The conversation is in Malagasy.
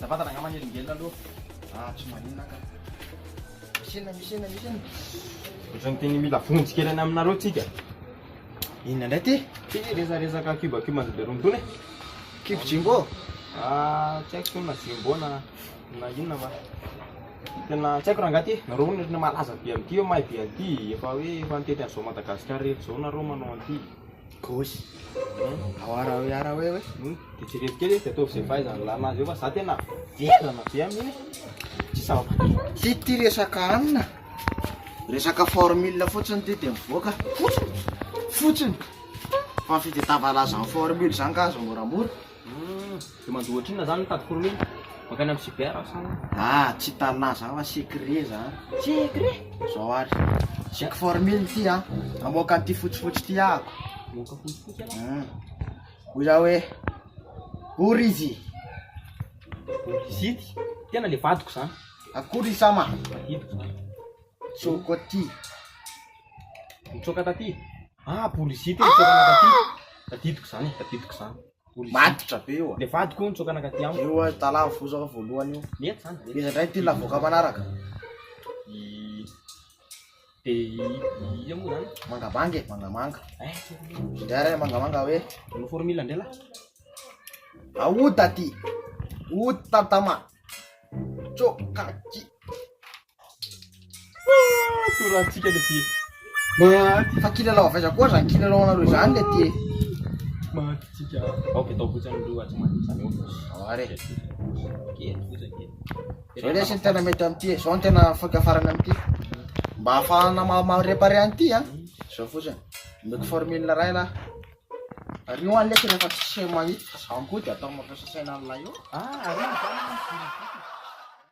Za vantana angamba nelingelina aloha ah tsy maninona ka. Misy inona misy inona misy inona. Ohatrany tena mila vonjy kely any aminareo tsika. Inona indray ty? Ty resaresaka kiba kiba an'i Beron tony e. Kibo Jimbo? Ah tsy haiko zao na Jimbo na na inona fa tena tsy haiko rangahy ty. Nareo hono efa malaza be amin'ity hoe mahay be an'ity, efa hoe efa nitety an'izao Madagasikara rehetra izao nareo manao an'ity. Gauche. Awara hoe ara hoe hoe. Hmm. Dia jerevy kely izy dia ataovy izay fahaizan'ny lalana azy eo fa za tena velona be amin'iny. Tsy zava-batra. Ty ty resaka anina. Resaka formule fotsiny ty dia mivoaka. Fotsiny. Fotsiny. Fa fitadiavana azy amin'ny formule izany ka azo moramora. Dia manjo ohatrinona izany mitady kurumi? Mankany amin'ny cyber aho sa ahoana? Ah, tsy hitanà za fa secret za. Secret? Zao ary, check for mille ity an, hamoaka an'ity fotsifotsy ity ahako. Hamoaka fotsifotsy ianao? Hum. Hoy za hoe, Borizy! Borizity? Tena le vadiko zany. Akory i Sama? Vadidiko zany. Nitsoaka aty. Nitsoaka taty? Ah, policier ty nitsoaka naka aty. Tadidiko zany, tadidiko zany. Policier. Matotra be io. Le vadiko io nitsoaka naka aty amiko. Io azy tala vozaka voalohany io. Mety zany. mety. Iza ndray ty lavoka manaraka? I de i ia moa zany? Mangamanga e, mangamanga. Eh, Indray ray mangamanga hoe no formule ndray lah. aota ty. Ota tama. Tsoka ty. Torantsika le ty. Fa kilalao avy aiza koa zany kilalao anareo zany le ty. Mahatsika. Ao be tao fotsiny loha tsy mahatsika zany eo. Are. Kely fotsiny kely. Zao lesy ny tena mety amin'ity, zao ny tena afaka farany amin'ity. Mba ahafahana ma- ma-repare an'ity a. Zao fotsiny. Omeko formule ray lahy. Ary io any lesy rehefa tsisy mahita fa zany koa de atao mampiasa saina an'ilay eo. Ah, ary io zany.